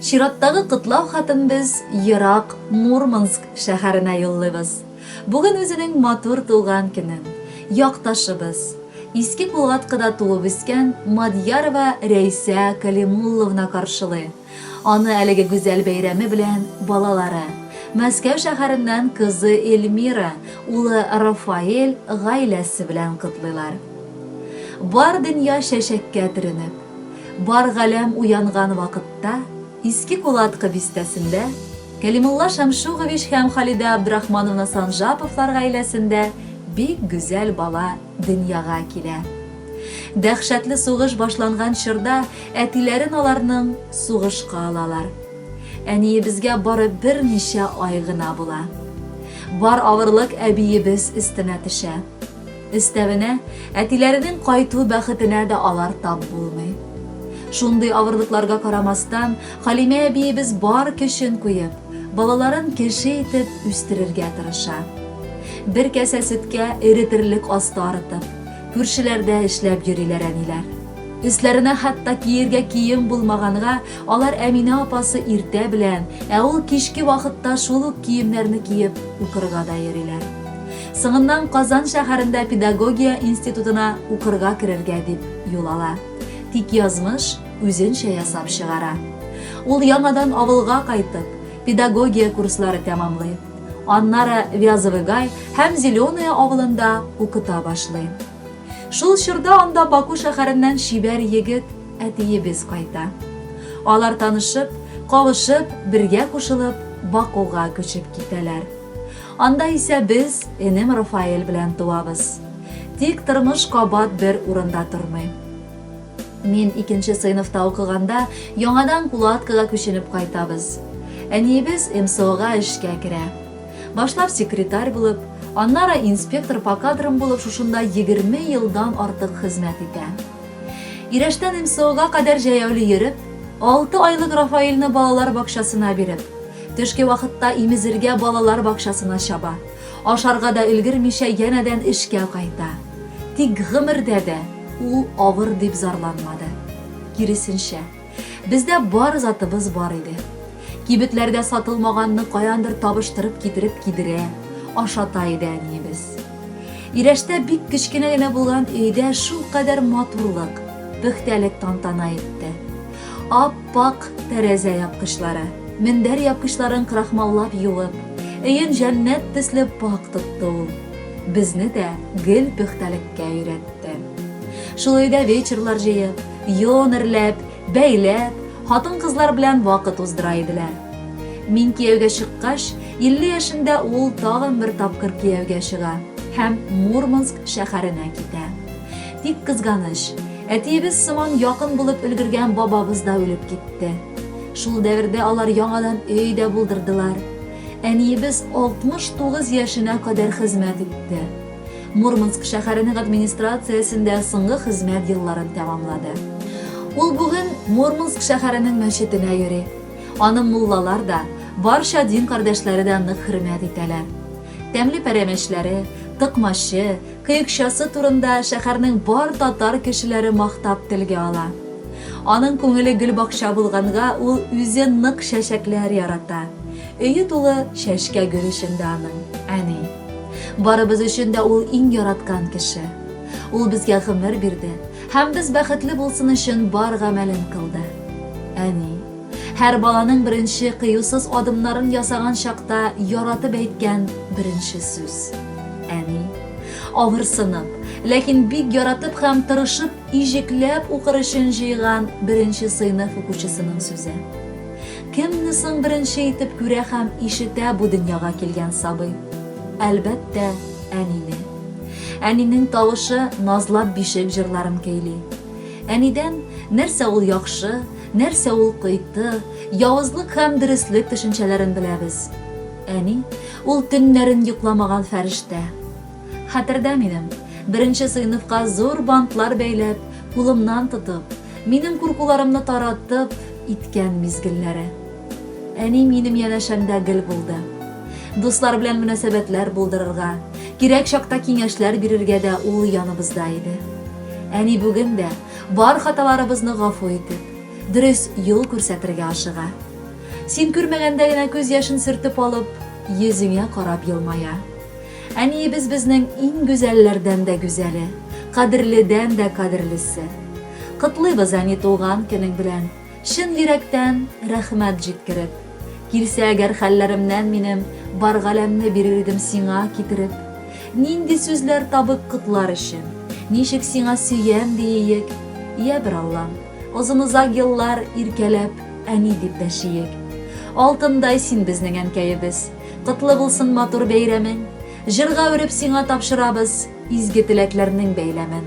Чираттагы котлау хатын без ерак Мурманск шәһәренә юллыйбыз. Бүген үзенең матур туган көне. Якташыбыз, Иске Кулгаткыда туып үскән Мадьярова Рәйсә Калимулловна каршылый. Аны әлеге гүзәл бәйрәме белән балалары, Мәскәү шәһәреннән кызы Эльмира, улы Рафаэль гаиләсе белән котлыйлар. Бар дөнья чәчәккә төренеп. Бар галәм уянган вакытта Иске Кулаткы бистәсендә Кәлимулла Шәмшугович һәм Халидә Абдрахмановна Санжаповлар гаиләсендә бик гүзәл бала дөньяга килә. Дәһшәтле сугыш башланган чорда әтиләрен аларның сугышка алалар. Әниебезгә бары берничә ай гына була. Бар авырлык әбиебез өстенә төшә. Өстәвенә, әтиләренең кайту бәхетенә дә алар тап булмый. Шундый авырлыкларга карамастан, Халимә әбиебез бар көчен куеп, балаларын кеше итеп үстерергә тырыша. Бер кәсә сөткә эретерлек асты арытып, күршеләрдә эшләп йөриләр әниләр. Өсләренә хәтта киергә кием булмаганга, алар Әминә апасы иртә белән, ә ул кичке вакытта шул ук киемнәрне киеп укырга да йөриләр. Соңыннан Казан шәһәрендә педагогия институтына укырга керергә дип юл ала. Тик язмыш үзенчә ясап чыгара. Ул яңадан авылга кайтып, педагогия курслары тәмамлый. Аннары Вязовый Гай һәм Зеленое авылында укыта башлый. Шул чорда анда Баку шәһәреннән чибәр егет, әтиебез кайта. Алар танышып, кавышып, бергә кушылып, Бакуга күчеп китәләр. Анда исә без энем Рафаэль белән туабыз. Тик тормыш кабат бер урында тормый. Мин икенче сыйныфта укыганда, яңадан Кулаткага күченеп кайтабыз. Әниебез МСОга эшкә керә. Башлап секретарь булып, аннары инспектор по кадрам булып шушында егерме елдан артык хезмәт итә. Ирәштән МСОга кадәр җәяүле йөреп, алты айлык Рафаэльне балалар бакчасына биреп, Төшке вакытта имезергә балалар бакчасына чаба. Ашарга да өлгермичә янәдән эшкә кайта. Тик гомердә дә ул авыр дип зарланмады. Киресенчә, бездә бар затыбыз бар иде. Кибетләрдә сатылмаганны каяндыр табыштырып китереп кидерә, ашата иде әниебез. Ирәштә бик кечкенә генә булган өйдә шулкадәр матурлык, пөхтәлек тантана итте. Ап, Пакь тәрәзә япкычлары, мендәр япкычларын крахмаллап юып, өен җәннәт төсле пакь тотты ул. Безне дә гел пөхтәлеккә өйрәтте. Шул өйдә вечерлар җыеп, йон эрләп, бәйләп, хатын-кызлар белән вакыт уздыра иделәр. Мин кияүгә чыккач, 50 яшендә ул тагын бер тапкыр кияүгә чыга һәм Мурманск шәһәренә китә. Тик кызганыч, Әтиебез сыман якын булып өлгергән бабабыз да үлеп китте. Шул дәвердә алар яңадан өй дә булдырдылар. Әниебез 69 яшенә кадәр хезмәт итте. Мурманск шәһәренең администрациясендә соңгы хезмәт елларын тәмамлады. Ул бүген Мурманск шәһәренең мәчетенә йөри. Аны муллалар да, барча дин кардәшләре дә нык хөрмәт итәләр. Тәмле пәрәмәчләре, тыкмачы, Кыекчасы турында шәһәрнең бар татар кешеләре мактап телгә ала. Аның күңеле гөлбакча булганга, ул үзе нык чәчәкләр ярата. Өе тулы чәчкә гөл эчендә аның, әни. Барыбыз өчен дә ул иң яраткан кеше. Ул безгә гомер бирде һәм без бәхетле булсын өчен бар гамәлен кылды. Әни. Һәр баланың беренче кыюсыз адымнарын ясаган чакта яратып әйткән беренче сүз. Әни. Авырсынып, ләкин бик яратып һәм тырышып, иҗекләп укыр өчен җыйган беренче сыйныф укучысының сүзе. Кемне соң беренче итеп күрә һәм ишетә бу дөньяга килгән сабый? Әлбәттә, әнине. Әнинең тавышы назлап бишек җырларын көйли. Әнидән, нәрсә ул яхшы, Нәрсә ул кыйты, явызлык һәм дөреслек төшенчәләрен беләбез. Әни, ул төннәрен йокламаган фәрештә. Хәтердә минем, беренче сыйныфка зур бантлар бәйләп, кулымнан тотып, минем куркуларымны таратып, иткән мизгелләре. Әни минем янәшәмдә гел булды. Дуслар белән мөнәсәбәтләр булдырырга, кирәк чакта киңәшләр бирергә дә ул яныбызда иде. Әни бүген дә, бар хаталарыбызны гафу итеп, дөрес юл күрсәтергә ашыга. Син күрмәгәндә генә күз яшен сөртеп алып, йөзеңә карап елмая. Әниебез безнең иң гүзәлләрдән дә гүзәле, кадерледән дә кадерлесе. Котлыйбыз, әни, туган көнең белән! Чын йөрәктән рәхмәт җиткереп. Килсә әгәр хәлләремнән минем, Бар галәмне бирер идем сиңа китереп. Нинди сүзләр табып котлар өчен, Ничек сиңа сөям диеек? Йә, бер Аллам, озын-озак еллар Иркәләп, әни дип дәшиек. Алтындай син безнең әнкәебез, Котлы булсын матур бәйрәмең! Җырга үреп сиңа тапшырабыз Изге теләкләрнең бәйләмен.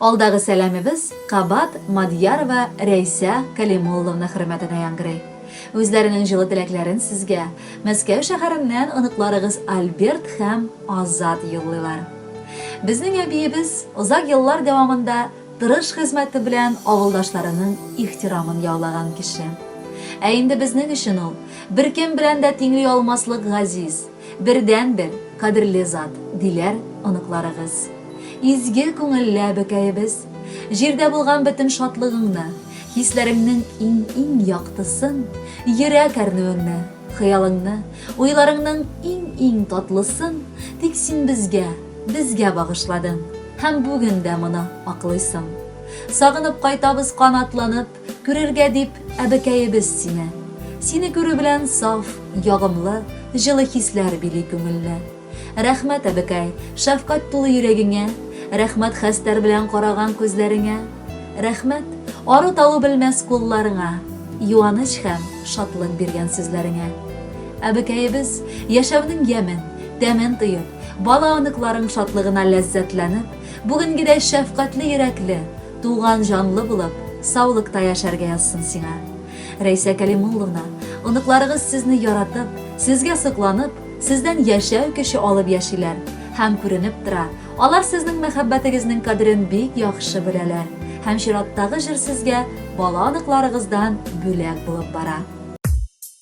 Алдагы сәламебез кабат Мадьярова Рәйсә Кәлимулловна хөрмәтенә яңгырый. Үзләренең җылы теләкләрен сезгә Мәскәү шәһәреннән оныкларыгыз Альберт һәм Азат юллыйлар. Безнең әбиебез озак еллар дәвамында тырыш хезмәте белән авылдашларының ихтирамын яулаган кеше. Ә инде безнең өчен ул, беркем белән дә тиңли алмаслык газиз. Бердәнбер кадерле зат, диләр оныкларыгыз. Изге күңелле әбекәебез, җирдә булган бөтен шатлыгыңны, хисләреңнең иң-иң яктысын, йөрәк әрнүеңне, хыялыңны, уйларыңның иң-иң татлысын тик син безгә, безгә багышладың һәм бүген дә моны аклыйсың. Сагынып кайтабыз канатланып. Күрергә дип, әбекәебез сине. Сине күрү белән саф, ягымлы, җылы хисләр били күңелне. Рәхмәт, әбекәй, шәфкать тулы йөрәгеңә, рәхмәт хәстәр белән караган күзләреңә, рәхмәт, ару-талу белмәс кулларыңа, юаныч һәм шатлык биргән сүзләреңә. Әбекәебез, яшәүнең ямен, тәмен тоеп, бала-оныкларың шатлыгына ләззәтләнеп, бүгенгедәй шәфкатьле йөрәкле, Туган җанлы булып, саулыкта яшәргә язсын сиңа. Рәйсә Кәлимулловна, оныкларыгыз сезне яратып, сезгә сокланып, сездән яшәү көче алып яшиләр. Һәм күренеп тора, алар сезнең мәхәббәтегезнең кадерен бик яхшы беләләр. Һәм чираттагы җыр сезгә бала оныкларыгыздан бүләк булып бара.